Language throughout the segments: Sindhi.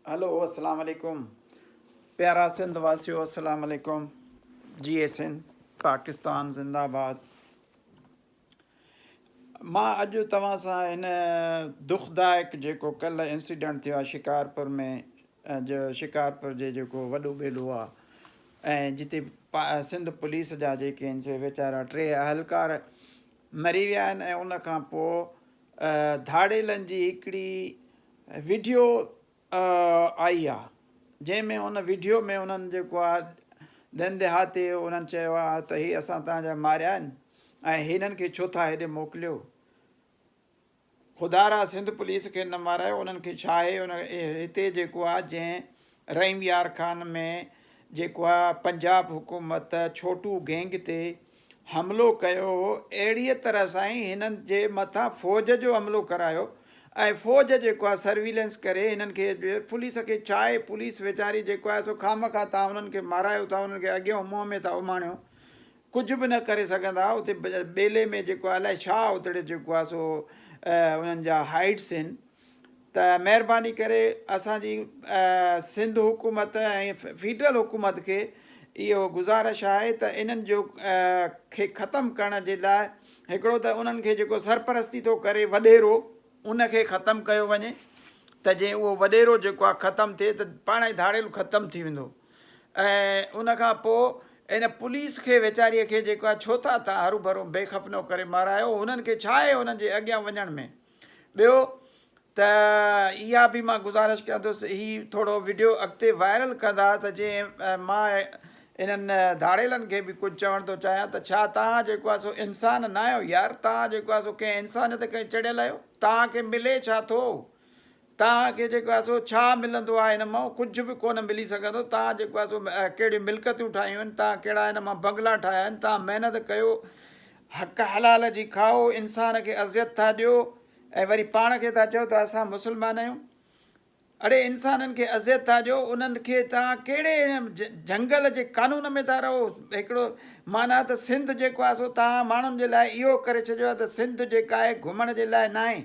هلو اسلام عليڪم پيارا سنڌ واسيو اسلام عليڪم جي اي سنڌ پاڪستان زنده آباد مان اڄ توهان سان هن دکدائڪ جيڪو ڪلهه انسيڊنٽ ٿيو آهي شڪارپور ۾ جو شڪارپور جي جيڪو وڏو ٻيلو آهي ۽ جتي سنڌ پوليس جا جيڪي آهن سي ويچارا ٽي اهلڪار مري ويا آهن ۽ ان کان پوء ڌاڙيلن جي هڪڙي وڊيو آئي آ جنهن ۾ ان وڊيو ۾ انهن جيڪو آ ڏھن ديھاتي انهن چيو آ ته هي اسان تنهنجا ماريا آهن ۽ هنن کي ڇو ٿا هيڏي موڪليو. خدا را سنڌ پوليس کي نه مارايو انهن کي ڇا آهي ان هتي جيڪو آ جنهن رحيم يار خان ۾ جيڪو آ پنجاب حڪومت ڇوٽو گينگ تي حملو ڪيو هو اهڙي طرح سان ئي هنن جي مٿان فوج جو حملو ڪرايو ۽ فوج جيڪو آ سرويلنس ڪري هنن کي پوليس کي ڇا آهي پوليس ويچاري جيڪو آ سو خامخا تان انهن کي مارايو ٿا انهن کي اڳيون منهن ۾ ٿا اماڻيو ڪجهه به نه ڪري سگهندا اتي ٻيلي ۾ جيڪو آهي الائي ڇا اتڙي جيڪو آهي سو انهن جا هائيٽس آهن ته مهرباني ڪري اسانجي سنڌ حڪومت ۽ فيڊرل حڪومت کي اهو گذارش آهي ته انهن جو کي ختم ڪرڻ جي لاء هڪڙو ته انهن کي جيڪو سرپرستي ٿو ڪري وڏيرو ان کي ختم ڪيو وڃي ته جي اهو وڏيرو جيڪو آهي ختم ٿئي ته پاڻ ئي ڌاڙيل ختم ٿي ويندو ۽ ان کان پوء ان پوليس کي ويچاريء کي جيڪو آهي ڇو ٿا تان هرو ڀرو بي خپنو ڪري مارايو هنن کي ڇا آهي هنن جي اڳيان وڃڻ ۾ ٻيو ته اها به مان گذارش ڪيان ٿو هي ٿورو وڊيو اڳتي وائرل ڪندا ته جي مان انهن ڌاڙيلن کي به ڪجهه چوڻ ٿو چاهيان ته ڇا تان جيڪو آهي سو انسان نه آهيو يار تان جيڪو آهي سو ڪنهن انسانيت کي چڙيل آهيو تان کي ملي ڇا ٿو توهان کي جيڪو آهي سو ڇا ملندو آهي ان مان؟ ڪجهه به ڪونه ملي سگهندو. توهان جيڪو آهي سو ڪهڙيون ملڪتون ٺاهيون آهن، توهان ڪهڙا ان مان بنگلا ٺاهيا آهن، توهان محنت ڪيو، حق حلال جي کائو، انسان کي اذيت ٿا ڏيو ۽ وري پاڻ کي ٿا چئو ته اسان مسلمان آهيون. اڙي انسانن کي اذيت ٿا ڏيو، انهن کي توهان ڪهڙي جهنگل جي قانون ۾ ٿا رهو، هڪڙو معنيٰ ته سنڌ جيڪو آهي سو توهان ماڻهن جي لاء اهو ڪري ڇڏيو آهي ته سنڌ جيڪا آهي گهمڻ جي لاء ناهي،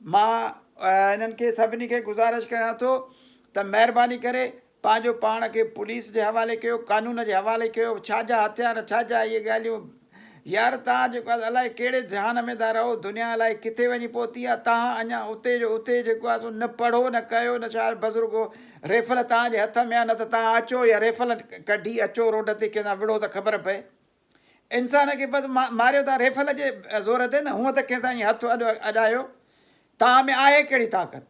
مان انهن کي سڀني کي گذارش ڪريان ٿو ته مهرباني ڪري پنهنجو پاڻ کي پوليس جي حوالي ڪيو قانون جي حوالي ڪيو ڇا جا هٿيار ڇا جا اهي ڳالهيون يار توهان جيڪو آهي الائي ڪهڙي جهان ۾ ٿا رهو دنيا الائي ڪٿي وڃي پهتي آهي توهان اڃا اتي جو اتي جيڪو آهي سو نه پڙهو نه ڪيو نه شايد بزرگو ريفل توهان جي هٿ ۾ آهي نه ته توهان اچو يا ريفل ڪڍي اچو روڊ تي ڪنهن سان وڙهو ته خبر پئي انسان کي بس ماريو ٿا ريفل جي زور تي نه هونء ته ڪنهن سان ائين هٿ اڏايو توهان ۾ آهي ڪهڙي طاقت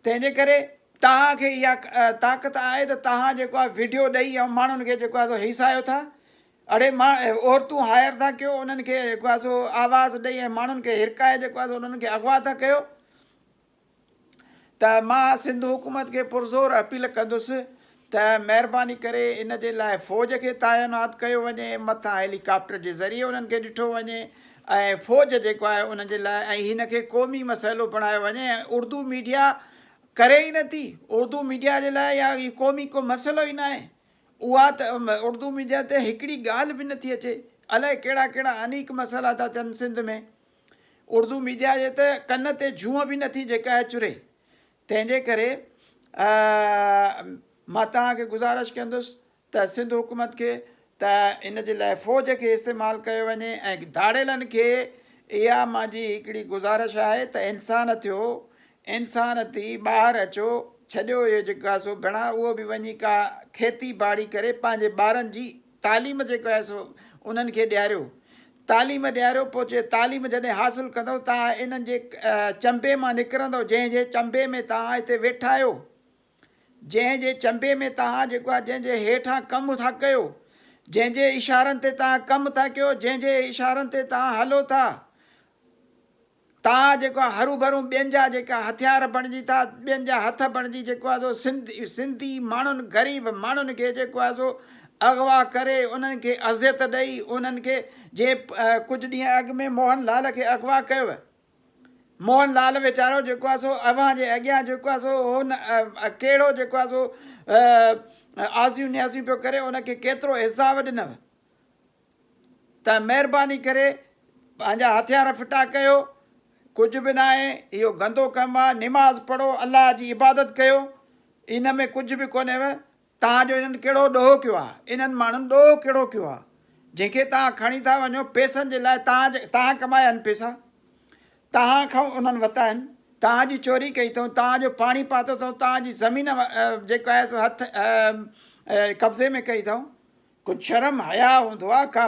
تنهن جي ڪري توهان کي اها طاقت آهي ته توهان جيڪو آهي ويڊيو ڏئي ۽ ماڻهن کي جيڪو آهي سو هيسايو ٿا اڙي عورتون هائر ٿا ڪيو انهن کي جيڪو آهي سو آواز ڏئي ۽ ماڻهن کي هرڪائي جيڪو آهي سو انهن کي اغوا ٿا ڪيو ته مان سنڌ حڪومت کي پرزور اپيل ڪندس ته مهرباني ڪري ان جي لاء فوج کي تعينات ڪيو وڃي، مٿان هيلي ڪاپٽر جي ذريعي انهن کي ڏٺو وڃي ۽ فوج جيڪو آهي انهن جي لاء ۽ هن کي قومي مسئلو بڻايو وڃي ۽ اردو ميڊيا ڪري ئي نه ٿي اردو ميڊيا جي لاء يا هي قومي ڪو مسئلو ئي ناهي اها ته اردو ميڊيا تي هڪڙي ڳالهه به نه ٿي اچي الائي ڪهڙا ڪهڙا انيڪ مسئلا ٿا ٿين سنڌ ۾. اردو ميڊيا جي ته ڪن تي جونء به نه ٿي جيڪا هي چري تنهن جي ڪري مان توهان کي گذارش ڪندس ته سنڌ حڪومت کي ته ان جي لاء فوج کي استعمال ڪيو وڃي ۽ ڌاڙيلن کي اها مانجي هڪڙي گذارش آهي ته انسان ٿيو انسان ٿي ٻاهر اچو ڇڏيو اهي جيڪا سو ڀيڻا اهو به وڃي ڪا کيتي ٻاڙي ڪري پنهنجي ٻارن جي تعليم جيڪو آهي سو انهن کي ڏياريو. تعليم ڏياريو پوء چي تعليم جڏهن حاصل ڪندؤ توهان انهن جي چنبي مان نڪرندؤ جنهن جي چنبي ۾ توهان هتي ويٺا آهيو. جنهن جي چنبي ۾ توهان جيڪو آهي جنهن جي هيٺان ڪم ٿا ڪيو. جنهن جي اشارن تي توهان ڪم ٿا ڪيو جنهن جي اشارن تي توهان هلو ٿا. تان جيڪو آ هروڀرو ٻين جا جيڪا هٿيار بڻجي ٿا ٻين جا هٿ بڻجي جيڪو آ سو سنڌ سنڌي ماڻهن غريب ماڻهن کي جيڪو آ سو اغوا ڪري انهن کي اذيت ڏئي انهن کي جي ڪجهه ڏينهن اڳ ۾ موهن لال کي اغوا ڪيو ويو موهن لال ويچارو جيڪو آ سو اوهان جي اڳيان جيڪو آ سو هو ڪهڙو جيڪو آ سو آزيون نيازيون پيو ڪري ان کي ڪيترو عذاب ڏنو ته مهرباني ڪري پنهنجا هٿيار ڦٽا ڪيو، ڪجهه به ناهي، اهو گندو ڪم آ، نماز پڙهو، الله جي عبادت ڪيو، ان ۾ ڪجهه به ڪونهيو، توهان جو انهن ڪهڙو ڏوهه ڪيو آ، انهن ماڻهن ڏوهه ڪهڙو ڪيو آ، جنهن کي توهان کڻي ٿا وڃو، پئسن جي لاء، توهان توهان ڪمايا آهن پئسا، توهان کان انهن ورتا آهن، توهان جي چوري ڪئي اٿئون، توهان جو پاڻي پاتو اٿئون، توهان جي زمين جيڪا آهي سو هٿ قبضي ۾ ڪئي اٿئون، ڪجھ شرم حياء هوندو آ ڪا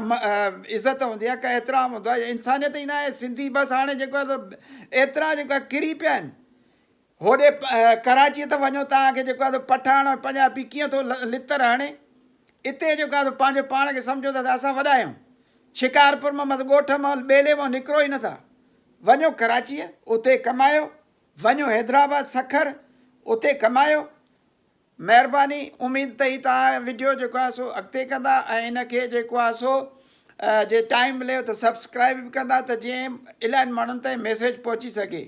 عزت هوندي آ ڪا احترام هوندو آ انسانيت ئي ناهي سنڌي بس هاڻي جيڪو آ سو ايترا جيڪو آ ڪري پيا آهن هوڏي ڪراچي ته وڃو توهان کي جيڪو آ سو پٺاڻ ۽ پنجابي ڪيئن ٿو لتر هڻي اتي جيڪو آ سو پنهنجو پاڻ کي سمجهو ٿا ته اسان وڏا آهيون شڪارپور مان مس ڳوٺ مان ٻيلي مان نڪرو ئي نٿا وڃو ڪراچيء اتي ڪمايو وڃو حيدرآباد سکر اتي ڪمايو مهرباني اميد تئي تان وڊيو جيڪو آهي سو اڳتي ڪندا ۽ ان کي جيڪو آهي سو جي ٽائيم مليو ته سبسڪرائيب به ڪندا ته جي الائن ماڻهن تائين ميسيج پهچي سگهي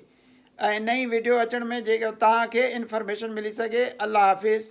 ۽ نئين وڊيو اچڻ ۾ جيڪو تان کي انفارميشن ملي سگهي الله حافظ.